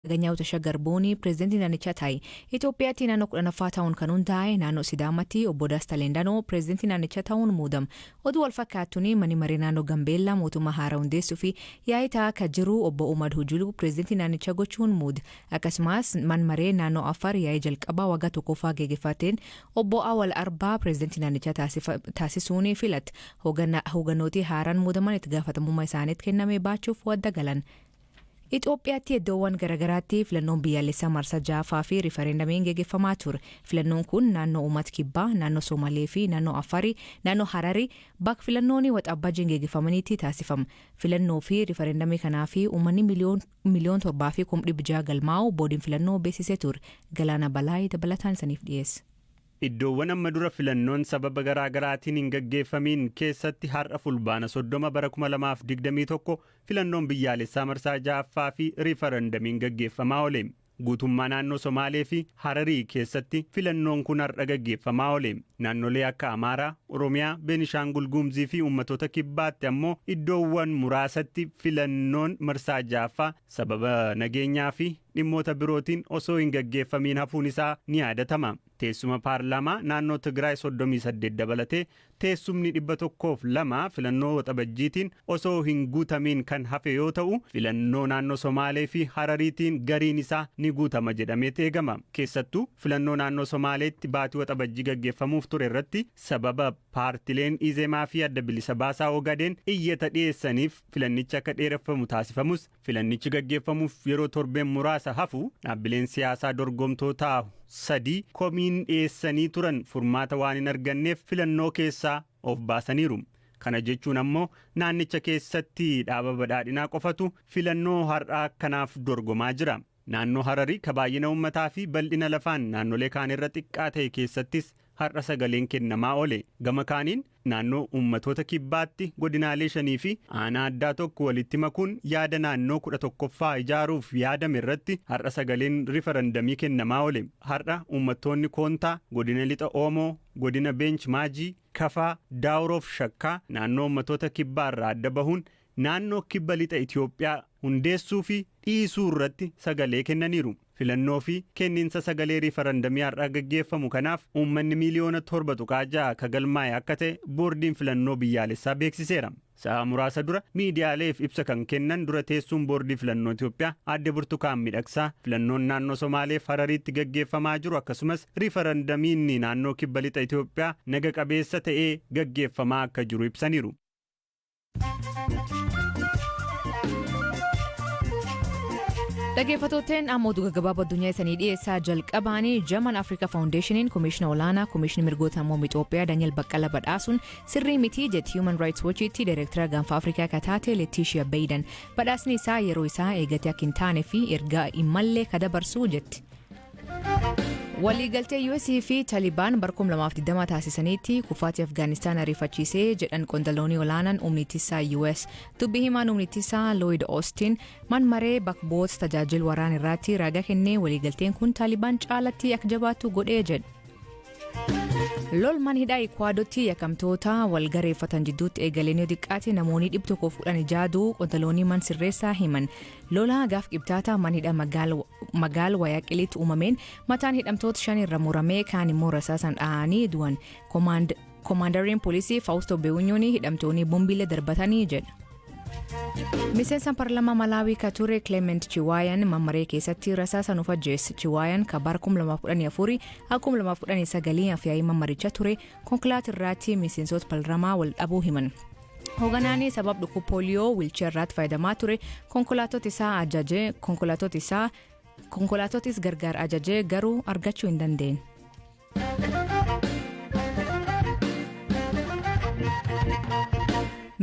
Aganyaw Tashagar Boonii Pireezidantii naannichaa ta'i. Itoophiyaatti naannoo 10ffaa ta'uun kan hundaa'e naannoo Sidaamatti Obbo Dasta Leendanoo Pireezidantii naannichaa ta'uun muudam. Oduu walfakkaattuun Manni Maree Naannoo Gambeellaa mootummaa haara hundeessuufi yaa'ii ta'aa akka jiru Obbo Umad Hujuluu Pireezidantii naannichaa gochuun muud. Akkasumaas Man Maree Naannoo Affaar yaa'ii jalqabaa waggaa tokkoffaa geegefateen Obbo Awal Arbaa Pireezidantii naannichaa taasisuun filat. Hooganooti haaraan muudaman itti gaafatamummaa isaaniit kenname baachuuf wadda galan. Itoophiyaatti eddoowwan garagaraatti filannoon biyyaalessaa marsaa 6ffaa fi rifarendamiin gegeffamaa ture. Filannoon kun naannoo Umat Kibbaa, naannoo Somalee fi naannoo Affarii, naannoo Harari, bak filannooni Waxabajjiin gegeffamaniitti taasifama. Filannoo fi rifarendamii kanaafi uummanni miliyoon miliyoon 7 fi kum dhib 6 galmaa'u boodiin filannoo beeksisee ture. Galaana Balaay dabalataan isaniif dhiyeessa. Iddoowwan amma dura filannoon sababa garaagaraatiin hin gaggeeffamiin keessatti har'a Fulbaana 30 bara 2021 Filannoon biyyaalessaa marsaa 6ffaa fi riifarandamiin gaggeeffamaa oole. Guutummaa naannoo Somaalee fi Hararii keessatti filannoon kun har'a gaggeeffamaa oole. Naannolee akka Amaaraa, Oromiyaa, Beenishaangul Guumzii fi Uummatoota Kibbaatti ammoo iddoowwan muraasatti filannoon marsaa 6ffaa sababa nageenyaa fi dhimmoota birootiin osoo hin gaggeeffamiin hafuun isaa ni yaadatama. Teessuma paarlaamaa naannoo Tigraay 38 dabalatee Teessumni 102 filannoo Waxabajjiitiin osoo hin guutamiin kan hafe yoo ta'u, filannoo naannoo Somaalee fi Harariitiin gariin isaa ni guutama jedhameet eegama. Keessattuu, filannoo naannoo Somaaleetti baatii Waxabajjii gaggeeffamuuf ture irratti sababa paartileen Izemaa fi Adda Bilisa Baasaa Ogaden iyyata dhiyeessaniif filannichi akka dheereffamu taasifamus, Filannichi gaggeeffamuuf yeroo torbeen muraasa hafu dhaabbileen siyaasaa dorgomtoo taa'u sadii komiin dhiyeessanii turan furmaata waan hin arganneef filannoo keessaa of baasaniiru. Kana jechuun ammoo naannicha keessatti dhaaba Badhaadhinaa qofatu filannoo har'aa kanaaf dorgomaa jira. Naannoo Hararii ka baay'ina ummataa fi bal'ina lafaan naannolee kaan irra xiqqaa ta'e keessattis har'a sagaleen kennamaa oole. Gama kaaniin, naannoo ummatoota kibbaatti godinaalee shanii fi aanaa addaa tokko walitti makuun yaada naannoo 11ffaa ijaaruuf yaadame irratti har'a sagaleen rifarandamii kennamaa oole. Har'a ummattoonni Koontaa, Godina Lixa Oomoo, Godina Beench Maajii, Kafaa, Daawuroo fi Shakkaa naannoo ummatoota kibbaa irraa adda bahuun naannoo Kibba Lixa Itiyoophiyaa hundeessuu fi dhiisuu irratti sagalee kennaniiru. Filannoo fi kenniinsa sagalee riifarandamii har'a gaggeeffamu kanaaf uummanni miiliyoona 7.6 ka galmaa'e akka ta'e Boordiin Filannoo Biyyaalessaa beeksiseera. Sa'aa muraasa dura miidiyaaleef ibsa kan kennan dura teessuun Boordii Filannoo Itiyoophiyaa Aadde Burtukaan Midhaksaa filannoon naannoo Somaalee fi Harariitti gaggeeffamaa jiru akkasumas riifarandamiinni naannoo Kibba Lixa Itiyoophiyaa naga qabeessa ta'ee gaggeeffamaa akka jiru ibsaniiru. Dhaggeeffattootteen amma oduu gaggabaaboo addunyaa isanii dhiyeessaa jalqabaanii Jaman Afrika Faawundeeshiniin Komishinii Olaanaa Komishinii Mirgoota Namoomaa Itoophiyaa Daniel Baqqala badhaasuun sirrii mitii jetti Human Rights Watchitti Daayireektara Gaanfa Afrikaa akka taate Letiishiya Beeyidan. Badhaasni isaa yeroo isaa eegatee akka hin taane fi ergaa hin malle ka dabarsu jetti. Waliigaltee US fi Talibaan bara 2020 taasisaniitti kufaatii Afgaanistaan ariifachiisee jedhan qondaloonni olaanaan humni ittisaa US. Dubbi himaan humni ittisaa Lloyd Austin man maree bakboota tajaajil waraan irraatti raaga kennee waliigalteen kun Taalibaan caalatti akka jabaatu godhee jedhe. Lol man hidhaa Ikwaadotti yakamtoota wal gareeffatan jidduutti eegaleen yoo xiqqaate namoonni dhibba tokkoof kudhan ijaaduu qondaloonni man sirreessaa himan. Lola gaaf qibxaata man hidha magaala magaal wayaqiliitti uumameen mataan hidhamtoota shan irra muramee kaan immoo rasaasan dhahanii du'an koomaandariin poolisii faawustoo beewunyuun hidhamtoonni bombiilee darbatanii jedha. miseensa parlamaa malaawii ka ture kileement chiwaayan mammaree keessatti rasaasan of ajjeesse chiwaayan ka bara 2014 akkuma 2019 afyaa'ii mammaricha ture konkolaataa irraatti miseensota parlamaa wal dhabuu himan. Hoganaanii sabab dhukub pooliyoo wiilcheer irraatti fayyadamaa ture konkolaatota isaa ajaje konkolaatota isaa konkolaatotis gargaar ajajee garuu argachuu hin dandeenye.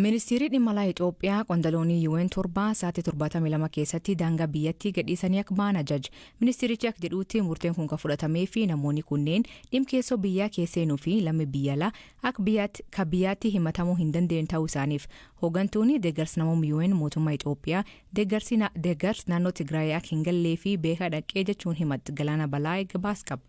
ministiirri dhimma alaa itoophiyaa qondaloonii yuween torbaa sa'aatii 72 keessatti daangaa biyyattii gadhiisanii akka ba'an ajaje ministiirichi akka jedhuutti murteen kun kan fudhatamee fi namoonni kunneen dhimkeessoo biyyaa keesseenuu fi lammii biyya alaa Akka biyyaatti ka biyyaatti himatamuu hin dandeenye ta'uu isaaniif hoogantuuni deeggarsa namoom UN mootummaa Itoophiyaa deeggarsi na deeggars naannoo Tigraayii akka hin gallee fi beekaa dhaqqee jechuun himatt Galaana Balaay gabaas qaba.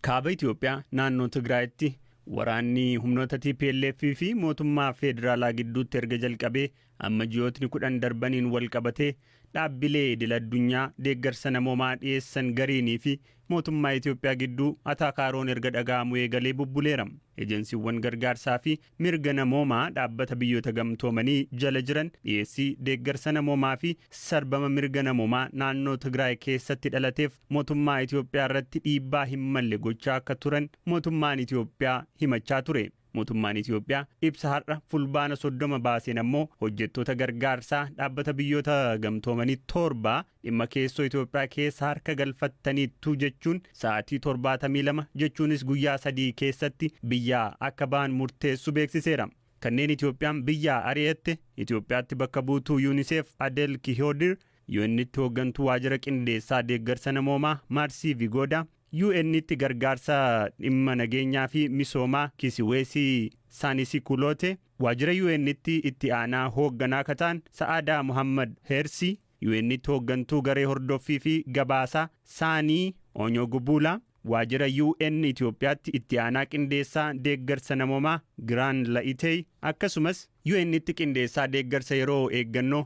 Kaaba Itoophiyaa naannoo Tigraayitti waraanni humnoota tplf fi mootummaa feedraalaa gidduutti erga jalqabee Amma ji'ootni 10 darbaniin walqabatee dhaabbilee idil addunyaa deeggarsa namoomaa dhiyeessan gariinii fi mootummaa Itoophiyaa gidduu ataakaaroon erga dhaga'amuu eegalee bubbuleera. Ejensiiwwan gargaarsaa fi mirga namoomaa Dhaabbata Biyyoota Gamtoomanii jala jiran dhiyeessii deeggarsa namoomaa fi sarbama mirga namoomaa naannoo Tigraay keessatti dhalateef motummaa Itoophiyaa irratti dhiibbaa hin malle gochaa akka turan motummaan Itoophiyaa himachaa ture. Mootummaan Itiyoophiyaa ibsa har'a Fulbaana 30 baaseen ammoo hojjettoota gargaarsaa Dhaabbata Biyyoota Gamtoomanii torba dhimma keessoo Itiyoophiyaa keessa harka galfattaniittu jechuun sa'aatii 72 jechuunis guyyaa sadii keessatti biyyaa akka ba'an murteessu beeksiseera. Kanneen Itiyoophiyaan biyyaa ari'atte Itiyoophiyaatti bakka buutuu Yuuniseef Adel Kihoodir, UN'tti hooggantuu waajira qindeessaa deeggarsa namoomaa Maarsii Vigoodaa, UN'tti gargaarsa dhimma nageenyaa fi misoomaa Kisiweesi Saanisikuloote, waajjira UN'tti itti aanaa hoogganaa ka ta'an Sa'aadaa Mohaammad Heersi, UN'tti hooggantuu garee hordoffii fi gabaasaa Saanii Oonyogubuulaa, waajjira UN Itiyoophiyaatti itti aanaa qindeessaa deeggarsa namoomaa Giraan La'iteey, akkasumas UN'tti qindeessaa deeggarsa yeroo eeggannoo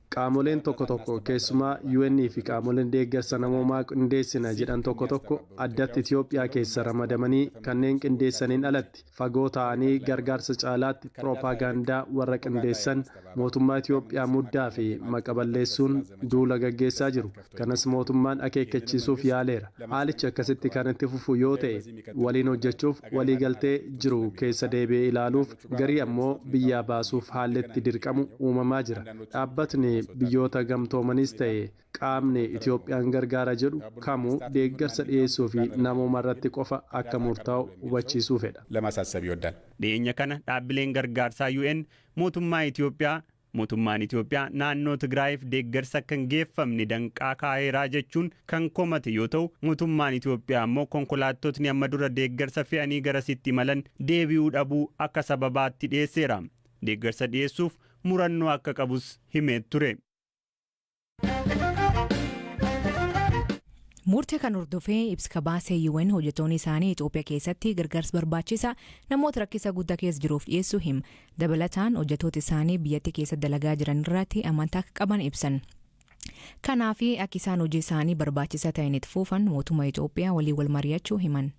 Qaamoleen tokko tokko, keessumaa UN fi qaamoleen deeggarsa namoomaa qindeessina jedhan tokko tokko addatti Itoophiyaa keessa ramadamanii kanneen qindeessaniin alatti fagoo taa'anii gargaarsa caalaatti piropaagaandaa warra qindeessan mootummaa Itoophiyaa muddaa fi maqa balleessuun duula gaggeessaa jiru. Kanas mootummaan akeekkachiisuuf yaaleera. Haalichi akkasitti kan itti fufu yoo ta'e, waliin hojjechuuf waliigaltee jiru keessa deebi'ee ilaaluuf, garii ammoo biyyaa baasuuf haalli itti dirqamu uumamaa jira. Dhaabbatni Biyyoota Gamtoomaniis ta'e qaamni Itoophiyaan gargaara jedhu kamuu deeggarsa dhiyeessuu fi namooma irratti qofa akka murtaa'u hubachiisuu fedha. Dhiyeenya kana dhaabbileen gargaarsaa UN mootummaa Itoophiyaa Mootummaan Itoophiyaa naannoo Tigraayiif deeggarsi akka hin geeffamne danqaa kaa'eera jechuun kan komate yoo ta'u, mootummaan Itoophiyaa ammoo konkolaattotni amma dura deeggarsa fe'anii garasitti imalan deebi'uu dhabuu akka sababaatti dhiyeesseera. Deeggarsa dhiyeessuuf murannoo akka qabus himee ture. Murtee kan hordofee ibsi kabaasee UN hojjettoonni isaanii Itoophiyaa keessatti gargaarsa barbaachisaa namoota rakkisa guddaa keessa jiruuf dhiyeessuu him. Dabalataan hojjettoota isaanii biyyattii keessa dalagaa jiran irratti amantaa akka qaban ibsan. Kanaaf akka isaan hojii isaanii barbaachisaa ta'een itti fuufan mootummaa Itoophiyaa waliin wal mari'achuu himan.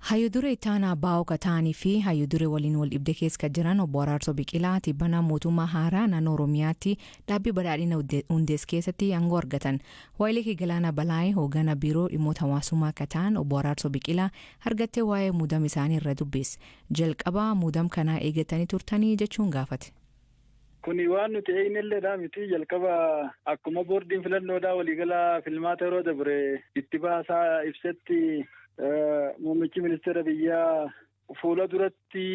Hayyudure itti aanaa baa'oo ka ta'anii fi hayyudure waliin wal dhibde keessa ka jiran obbo Araarsoo Biqilaa tibbana mootummaa haaraa naannoo Oromiyaatti dhaabbii badhaadhina hundees keessatti aangoo argatan. Waayilee kee Galaanaa Balaayee hoogganaa biiroo dhimmoota hawaasummaa ka ta'an obbo Araarsoo Biqilaa argattee waa'ee muudama isaanii irra dubbiis. Jalqabaa muudama kanaa eegattanii turtanii jechuun gaafate. Kuni waan nuti eegnelleedha miti jalqaba akkuma boordiin filannoodhaa waliigalaa filmaata yeroo dabre itti baasaa ibsetti muummichi ministeera biyyaa fuula duratti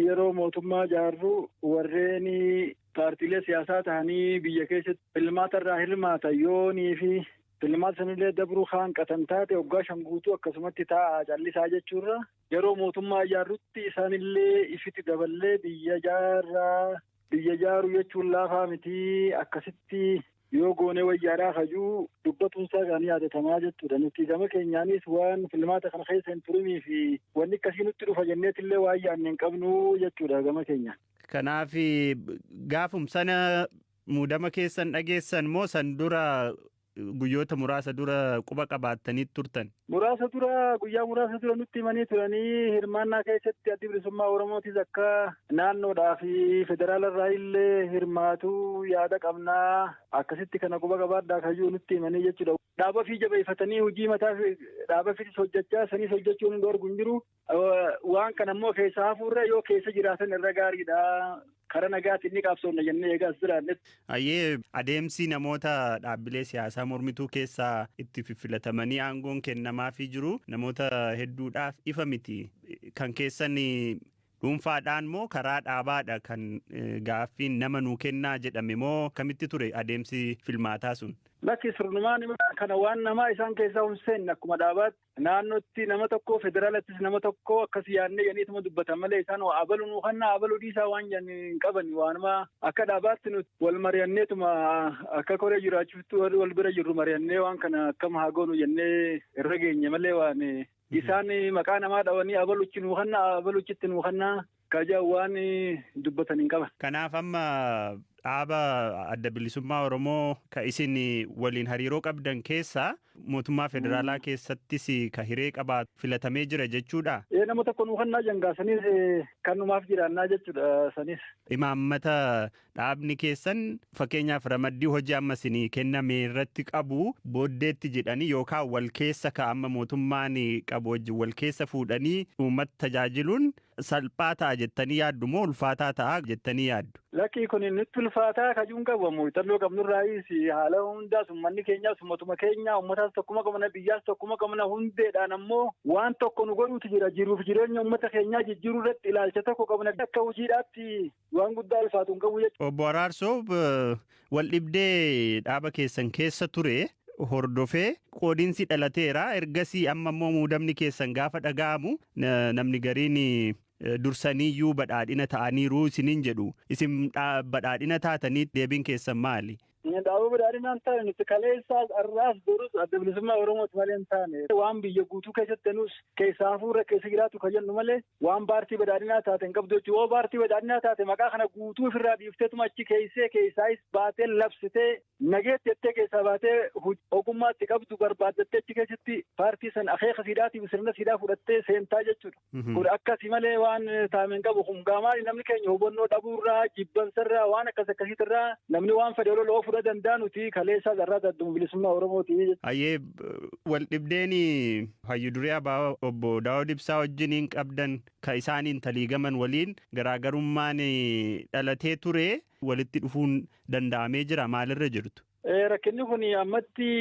yeroo mootummaa jaarru warreen paartiilee siyaasaa tahanii biyya keessatti filmaata irraa hirmaatan yoonii fi filmaata sanillee dabruu kaanqatan taate waggaa shan guutuu akkasumatti taa'aa callisaa jechuurra Yeroo mootummaa ijaarrutti isaanillee ifitti daballee biyya jaarraa. Biyya jaaruu jechuun laafaa miti akkasitti yoo goonee wayyaadhaa kajuu dubbatuun isaa kan yaadatamaa jechuudha. Nuti gama keenyaanis waan filmaata kana keessa hin turinii fi wanni akkasii nutti dhufa jenneetillee waan yaadne hin qabnu jechuudha gama keenya. Kanaaf gaafum sana muudama keessan dhageessan moo san dura guyyoota muraasa dura quba qabaattanii turtan. Muraasa dura guyyaa muraasa dura nutti himanii turanii hirmaannaa keessatti addi bilisummaa Oromootis akka naannoodhaa fi federaala irraa illee hirmaatu yaada qabnaa akkasitti kana quba qabaadhaa kayyuu nutti himanii jechuudha. Dhaaba fi jabeeffatanii hojii mataa dhaaba fi hojjechaa sanis hojjechuun hin dhoorgu hin jiru. Waan kana immoo keessa hafuurra yoo keessa jiraatan irra gaariidha. Karaa nagaatiin ni qabsoofna jennee egaa as jiraannetti. Ayyee adeemsi namoota dhaabbilee siyaasaa mormituu keessaa itti fiffilatamanii aangoon kennamaafii jiru namoota hedduudhaaf ifa miti. Kan keessan dhuunfaadhaan moo karaa dhaabaadha kan gaaffiin nama nuu kennaa jedhame moo akkamitti ture adeemsi filmaataa sun? Lakki sirnumaan kana waan namaa isaan keessaa hin seenne akkuma dhaabaatti. Naannootti nama tokko federaalattis nama tokko akkas yaadnee jedhaniituma dubbatan malee isaan waa abalu nuu kannaa abalu dhiisaa waan jedhan hin qaban waanuma akka dhaabaatti nuti wal mari'anneetuma akka koree jiraachuutti warri wal bira jirru mari'annee waan kana akkam haa goonu jennee irra geenye malee waan isaan maqaa namaa dhawanii abaluchi nuu kannaa abaluchitti nuu kannaa Ka jedhan waan dubbatan hin qaban. Kanaaf amma dhaaba adda bilisummaa Oromoo ka isin waliin hariiroo qabdan keessaa mootummaa federaalaa keessattis ka hiree qabaatu filatamee jira jechuudha. Ee nama tokko nu kannaa jangaa sanis kanumaaf jiraannaa jechuudha sanis. Imaammata dhaabni keessan fakkeenyaaf ramaddii hojii amma isinii kenname irratti qabu booddeetti jedhanii yookaan wal keessa ka amma mootummaan qabu wajjin wal keessa fuudhanii uummata tajaajiluun Salphaa ta'a jettanii yaaddu moo ulfaataa ta'a jettanii yaaddu? Lakkii kun nutti ulfaataa kajuun qabu muuxannoo qabnurraayis haala hundaas uummanni keenyaas uummatuma keenya uummataas tokkuma qabna biyyaas tokkuma qabna hundeedhaan ammoo waan tokko nu godhuutu jira jiruuf jireenya uummata keenyaa jijjiiruu irratti ilaalcha tokko qabna akka hojiidhaatti waan guddaa ulfaatu hin qabu jechuudha. Obbo Araarsoo waldhibdee dhaaba keessan keessa ture hordofee qoodinsi dhalateera. Ergasii amma immoo muudamni keessan gaafa dhaga'amu namni gariin dursaniiyyuu badhaadhina ta'aniiru isiniin jedhu. Isin badhaadhina taatanii deebiin keessan maali? Dhaaba badhaadhinaa hin taane nuti kaleessaas har'aas borus adda bilisummaa Oromooti malee hin taane waan biyya guutuu keessatti nuus keessaa hafuurra keessa jiraatu kan jennu malee waan paartii badhaadhinaa taate hin qabdu jechuudha. Yoo paartii badhaadhinaa taate maqaa kana guutuu ofirraa dhiifteetuma achi keessee keessaayis baatee labsitee nageetti jettee keessaa baatee ogummaatti qabdu barbaaddattee achi keessatti paartii san akeeka siidhaatiif sirna siidaa fudhattee seentaa jechuudha. Kun akkasi malee waan taame hin qabu. Kun gaamaali namni keenya hubannoo dhabuurraa, jibbansarraa, waan akkas akkasiitirraa namni waan fedhe olola oofuu dha danda'a nuti kaleessaa carraa dadduma bilisummaa Oromooti. Ayyee wal dhibdeen hayyu duree abaa obbo Daawud Ibsaa wajjiniin qabdan ka isaaniin taliigaman waliin garaagarummaan dhalatee ture walitti dhufuun danda'amee jira maalirra jirtu? Rakkinni kun ammatti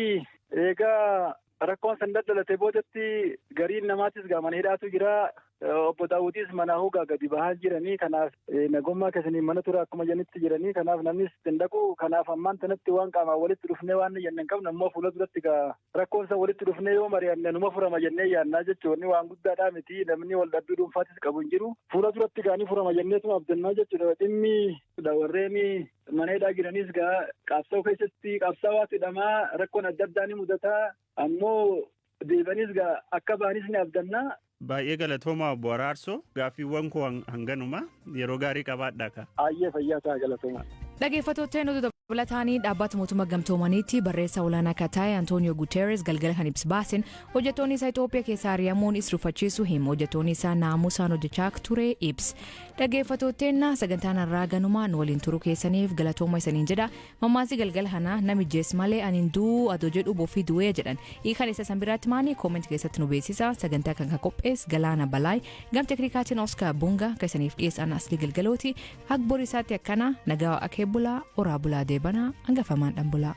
eegaa rakkoon san daddalatee boodatti gariin namaatis mana hidhaatu jira. Obbo Daawutis manaa hogaa gadi bahaa jiranii kanaaf nagummaa keessanii mana tura akkuma janitti jiranii kanaaf namnis ittiin dhaqu kanaaf ammaan tanatti waan qaamaan walitti dhufnee waan jenne hin qabnu ammoo fuula duratti gaa rakkoon san walitti dhufnee yoo mari'anne numa furama jennee yaannaa jechuun waan guddaadhaa miti namni wal dhabbii dhuunfaatis qabu hin jiru fuula duratti gaanii furama jenneetuma abdannaa jechuudha dhimmi warreen Mana hidhaa jiranis gaa qabsoo keessatti qabsaawaa hidhamaa rakkoon adda addaa ni mudata. Ammoo deebanis gaa akka baanis ni abdanna. Baay'ee galatoomaa obbo Araarsoo gaaffiiwwan koo hanganuma yeroo gaarii qabaadhaa ka. Ayyee fayyaa ta'a galatoomaa. Dhageeffattoota nuti dabalataanii dhaabbata mootummaa gamtoomaniitti barreessaa olaanaa akka ta'e Antooniyoo Guuteeres galgala kan ibsa baasen hojjettoonni isaa Itoophiyaa keessaa ari'amuun isa rifachiisu himu hojjettoonni isaa naamusaan hojjechaa akka ture ibsa. Dhageeffatoo teenna sagantaan arraa ganumaa nu waliin turuu keessaniif galatooma isaniin jedha mammaasi galgala kanaa nami jees malee anin du'uu adoo jedhu bofii du'ee jedhan hiikan isa san biraatti maani kooment keessatti nu beeksisa sagantaa kan kan qophees galaana balaay gam teknikaatiin oska bunga ka isaniif dhiyeessaan asli galgalooti akbor isaatti akkana nagaa akee bulaa oraa bulaa deebanaa angafamaan dhan bulaa.